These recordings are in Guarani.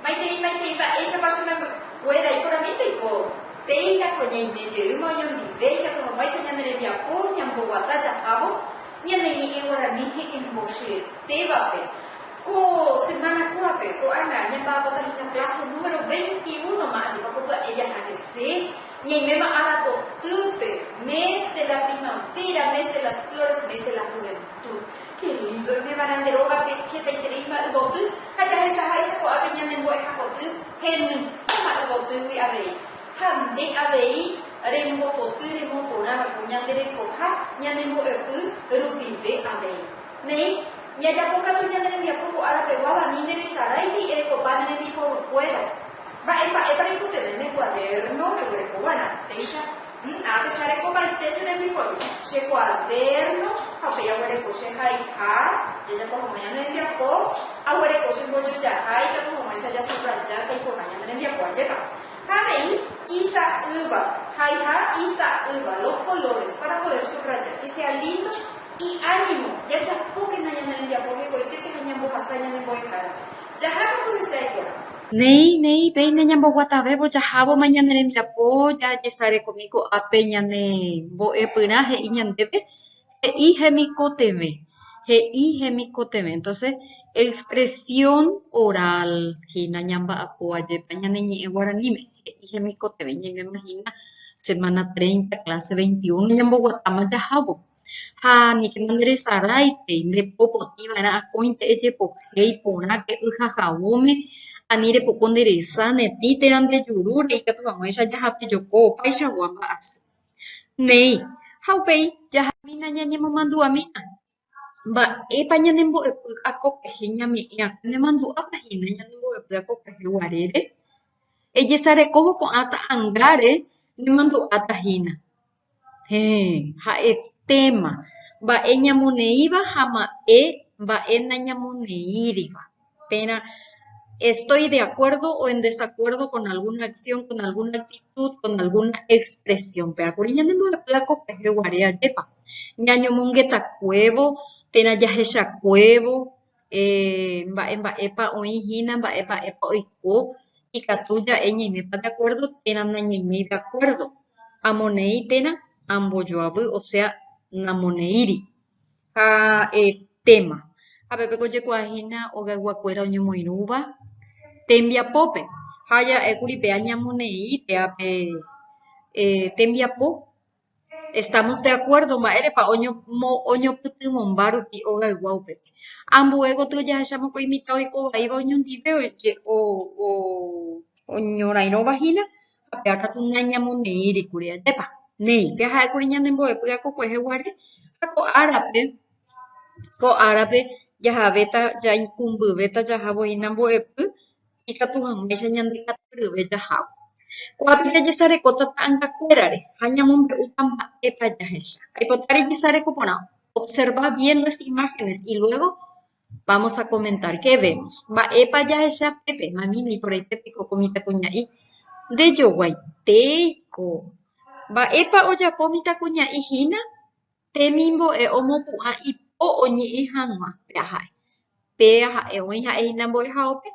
Maitei, maitei, mba'éichapa che membykuéra iporãvénte oiko. Péina ko ñaime jeýma oñondive ikatuhaguáicha ñane rembiapo ñamboguata jahávo ñane ñe'ẽ guarani he'ẽmbocyetévape. Ko semana kúape, ko'ág̃a, ñamba'apota hína clase número veinti úno ma ajepapopya'e jaha hese. Ñaiméma arapotýpe, Mes de la primavera, mes de las flores, mes de la juventud. Ke lindo emevarã nde rógape hetaiterei mba'yvoty ha jahechaháicha ko'ápe ñane mbo'ehapoty heny ko mba'yvotýgui avei. Ha nde avei rembopoty remoporãva'ekue ñande rekoha ñane mbo'epy rupive avei. Néi, ñajapokatu ñane rembiapo ko ára peguáva ni nde resarái ni erekopa ne rembiporukuéra. Mba'e mba'épa reikotevẽ ne kuaderno reguereko va'erã? Péicha, Ná, pecha'arekovaite che rembiguái, che kuaderno ha upéi aguereko che haiha jajapo hag̃ua ñane rembiapo, aguereko che mbojojaha ikatu hag̃uáicha jasubraja taikoha ñane rembiapo. Ajépa? Ha avei, Isa'ýva, haiha isa'ýva, los colores para poder subrayar, que sea lindo y ánimo, jajapókena ñane rembiapo hekoitépe ha ñambohasa ñane mbo'ehárape. Jaha katu hesay porã. Néi, néi, péina ñamboguatavévo jahávoma ñane rembiapo jajesarekomi ko'ápe ñane mbo'epyrã he'i ñandéve, he'i hemikotevẽ, he'i hemikotevẽ. Entonces, expresión oral hína ñamba'apo ajépa ñane ñe'ẽ guaraníme, he'i hemikotevẽ. Ñaimema hína semana treinta, clase veintiuno ñamboguatáma jahávo. Ha aníkena nderesaráipe, nde po potĩ va'erã akóinte ejepohéi porã ke y ha javóme, ani repoko nde resa netĩ térã nde jurúre ikatu hag̃uáicha jahape joko opaichagua mba'asy. Néi, ha upéi jahamína ñañemomandu'amína, Mba'épa ñane mbo'epy akopyhy ñame'ẽ akóne ha mandu'ápa hína ñane mbo'epy akopyhy guarére? Ejesarekóvo ko'ã ta'angáre ne mandu'áta hína. Héẽ, ha'etéma, mba'e ñamoneíva ha mba'e mba'e nañamoneíriva. Térã estoy de acuerdo o en desacuerdo con alguna acción, con alguna actitud, con alguna expresión. Péva kuri ñanembopy'a ko peje guare ajépa, ñañomongetakuévo térã jahechakuévo, mba'e mba'épa oĩ hína, mba'e mba'épa oiko, ikatu ja'e ñaimépa de akuérdo térã nañaiméi de akuérdo. Amoneĩ térã ambojoavy, osea namoneíri. Ha téma. Ha pe peko ojekuaa hína hogayguakuéra oñemoirũva tembiapópe. Ha ja'ékuri pe añamoneĩ pe ape tembiapo Estamos de acuerdo mba'érepa oñopytyvõmba rupi ogaygua upépe. Ambue gotyo ojahecha mokõi mitã oiko vaíva oñondive oñorairõva hína ha péva katu nañamoneíri kuri. Ajépa? Néi, péa ha'e kuri ñande mbo'epy akokuehe guare ha ko árape, ko árape jahavéta, jaikũmbyvéta jahávo hína mbo'epy. ikatu hag̃uáicha ñandekatuyryve jahávo. Ko'ápe jajesarekóta ta'angakuérare ha ñamombe'úta mba'épa jahecha. Aipota rejesareko porã, observa bien las imágenes y luego vamos a comentar qué vemos. Mba'épa jahecha pépe? Mami, niporãite piko ko mitãkuña'i? Ndejoguaitéiko! Mba'épa ojapo mitãkuña'i hína? Temimbo'e omopu'ã ipo oñe'ẽ hag̃ua péa ha'e. Péa ha'e oĩ ha'ehína mbo'ehaópe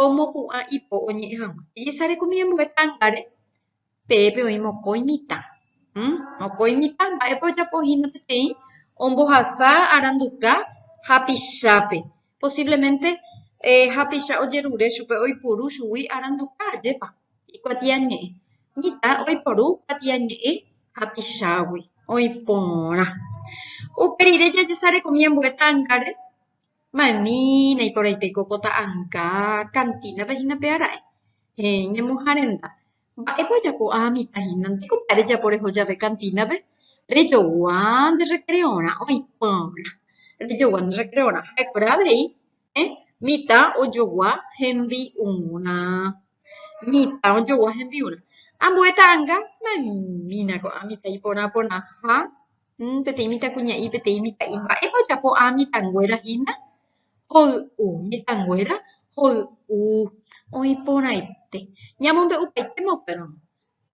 omopu'ã ipo oñe'ẽ hag̃ua. Ejesarekumi ambue tángare, peẽpe oĩ mokõi mitã. Mokõi mitã mba'épa ojapohína peteĩ ombohasa aranduka hapichápe. Posiblemente hapicha ojerure chupe oipuru chugui aranduka ajépa. ikuatiañe'ẽ, mitã oiporu kuatiañe'ẽ hapichágui oĩ porã. Upe rire jajesarekomi ambue tángare, ma'ẽmína iporãite ko pota'ãnga kantínape hína pe aráe. Heẽ, ñemoharenda, mba'épa ojapo'a mitã hínante ko mba'e rejapo reho jave kantínape? Rejogua nde rrekreorã oĩ porã, rejogua nde rrekreorã ha'ekuéra avei Ñane mitã ojogua hembi'urã. Mitã ojogua hembi'urã. Ambue ta'ãnga ma'ẽmína ko'ã mitã iporã porãha, peteĩ mitãkuña'i, peteĩ mitã'i. Mba'épa ojapo ko'ã mitãnguéra hína? Hoy'u. Mitãnguéra hoy'u. Oĩ porãite. Ñamombe'upaitéma upérõ.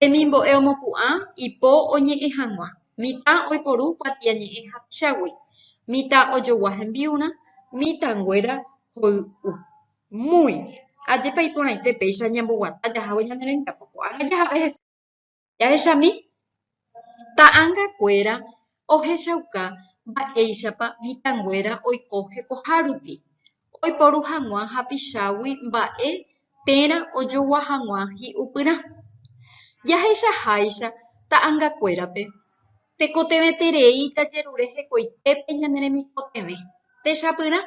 Hemimbo'e omopu'ã ipo oñe'ẽ hag̃ua, mitã oiporu kuatiañe'ẽ hapichágui, mitã ojogua hembi'urã, mitãnguéra hoy'u. Muy bien. Ajépa iporãite péicha ñamboguata jahávo ñane rembiapo ko'ágã jahave hese. Jahechami, ta'ãngakuéra ohechauka mba'éichapa mitãnguéra oiko hekohárupi oiporu hag̃ua hapichágui mba'e térã ojogua hag̃ua hi'upyrã. Jaheichaháicha ta'angakuérape, tekotevẽterei jajerure hekoitépe ñane remikotevẽ techapyrã,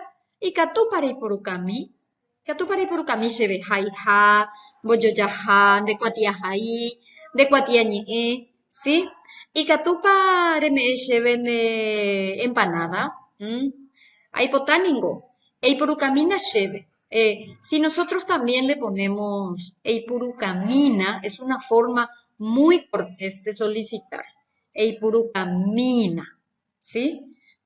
ikatúpa reiporukami? Ikatúpa reipurukami chéve haiha, mbojojaha, ndekuatiahai, ndekuatiañe'ẽ, si. Ikatúpa reme'ẽ chéve ne empanáda, mm. Aipota ningo, eipurukamína chéve. Si nosotrós también le ponémos eipurukamína, es una forma muy cortés de solicitar, eipurukamína, si.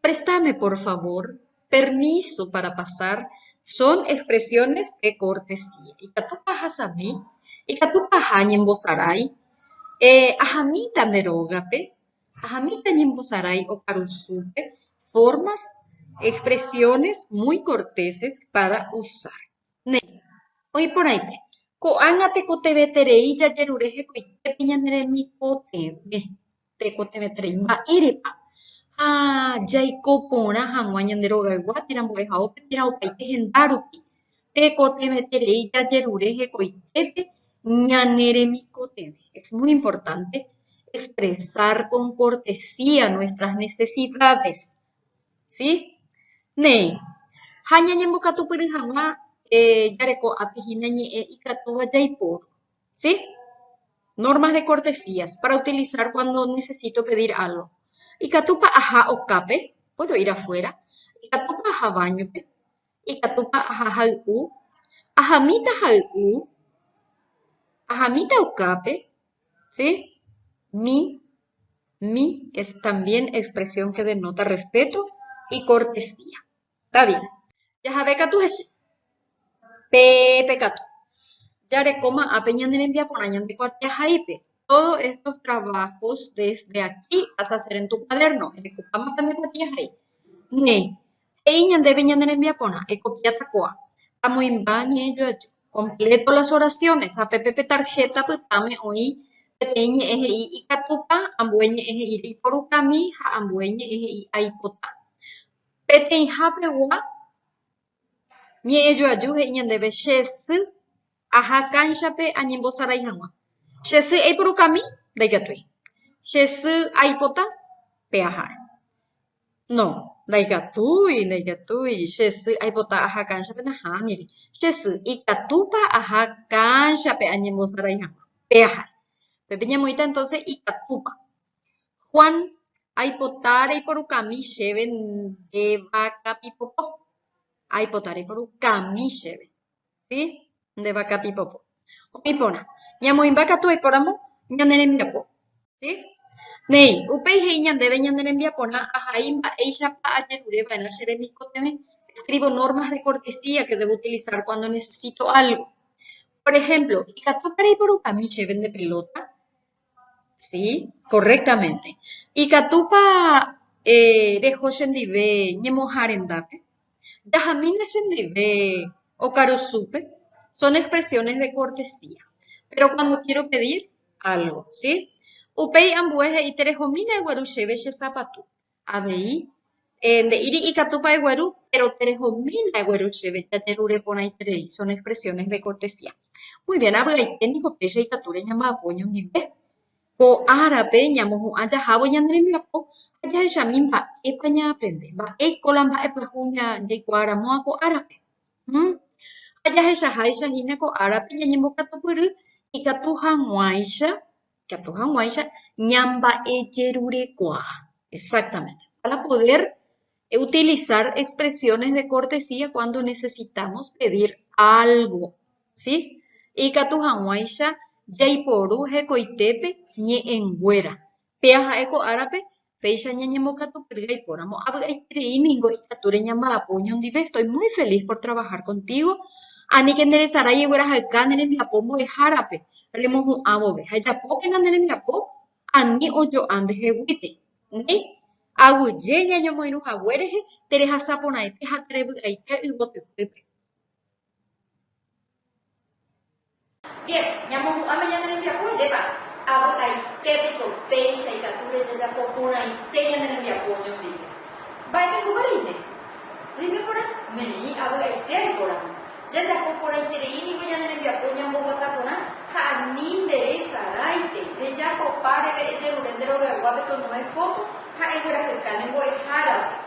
Préstame, por favor, permiso para pasar son expresiones de cortesía. Ikatúpa ahasami? Ikatúpa aha ñembosarái? Eh, ahamíta nde rógape? Ahamíta ñembosarái okarusúpe? Formas, expresiones muy corteses para usar. Néi, oĩ porãite, ko'ág̃a tekotevẽterei jajerure hekoitépe ñane remikotevẽ. Tekotevẽterei mba'érepa ha jaiko porã hag̃ua ñande rogaygua térã mbo'ehaópe térã opaite henda rupi. Tekotevẽterei jajerure hekoitépe ñane remikotevẽ. Es muy importante expresar con cortesía nuestras necesidades, si? Néi, ha ñañembokatupyry hag̃ua jareko ápe hína ñe'ẽ ikatúva jaiporu. si, normas de cortesías para utilizar cuando necesito pedir algo. Ikatúpa aha okápe, puedo ir afuera, ikatúpa aha baño-pe, ikatúpa aha hay'u, ahamíta hay'u, ahamíta okápe, si, mi, mi es también expresión que denota respeto y cortesía. David. Jahave katu hese. Pe pekatu. Jarekóma ápe ñane rembiaporã ñande kuatiahaípe. Todo estos trabajos desde aquí vas a hacer en tu cuaderno. Erekopáma pende kuatiahai. Ne. He'i ñandéve ñane rembiaporã, ekopiáta koa. Amoĩmba ñe'ẽ joaju. Completo las oraciones. Ha pe pe tarjeta pytãme oĩ peteĩ ñe'ẽ he'i ikatúta, ambue ñe'ẽ he'i reiporukami ha ambue ñe'ẽ he'i aipota. Peteĩha pegua, ñe'ẽjoaju he'i ñandéve, Che sy aha kánchape añembosarai hag̃ua. Che sy eipurukami? Ndaikatúi. Che sy aipota? Pe aha'e. No, ndaikatúi, ndaikatúi. Che sy aipota aha kánchape? Nahániri. Che sy, ikatúpa aha kánchape añembosarai hag̃ua? Pe aha'e. Upépe ñamoĩta entonces ikatúpa. Juan, Aipota reiporukami chéve nde vaka pipopo. Aipota reiporukami chéve, si, nde vaka pipopo. Oĩ porã, ñamoĩmba katu oikóramo ñane rembiapo, si. Néi, upéi he'i ñandéve ñane rembiaporã ahai mba'éichapa ajerure va'erã che remikotevẽ, escribo normas de cortesía que debo utilizar cuando necesito algo. Por ejemplo, ikatúpa reiporukami chéve nde pelota? Sí, correctamente. Ikatúpa reho chendive ñemoharendápe? Jahamína chendive okarusúpe? Son expresiones de cortesía. Péro cuando quiero pedir algo, sí? Upéi ambue he'íta rehomína egueru chéve che sapatu. Avei, nde'íri ikatúpa egueru, péro terehomína egueru chéve jajerure porãiterei. Son expresiones de cortesía. Muy bien, avy'aite niko péicha ikatu reñamba'apo oñondive. Ko árape ñamohu'ã jahávo ñane rembiapo ha jahechami mba'épa ñaaprende, mba'éiko la mba'e pyahu jaikuaa ramóva ko árape. Hum. Ha jahechaháicha hína ko árape ñañembokatupyry ikatu hag̃uáicha ikatu hag̃uáicha ñamba'ejerurekuaa. Exactamente. Para poder utilizar expresiones de cortesía cuando necesitamos pedir algo. ¿Sí? Ikatu hag̃uáicha jaiporu hekoitépe ñe'ẽnguéra. Péa ha'e ko árape péicha ñañembokatupyry aipóramo, avy'aiterei ningo ikatúre ñamba'apo oñondive, estoy muy feliz por trabajar contigo, aníke neresarái eguerahayka ne rembiapo mbo'ehárape remohu'ã vove, ha ejapókena ne rembiapo ani ojo'a ndeheguíte, néi, aguyje ñañomoirũ hague rehe, terehasaporãite ha terevy'aite yvotypýpe. Bien, ñamopu'ãme ñane rembiapo ajépa. Avy'aite piko péicha ikatu rejajapo porãite ñane rembiapo oñondive. Mba'etekópa reime? Reime porã? Neĩ, avy'aite aiporamo. Jajapo porãiterei ningo ñane rembiapo ñamboguata porã ha ani nde resarãite, rejapopa reve ejerure nde rogaygua pe tonoe foto ha eguerahyka ne mbo'ehárape.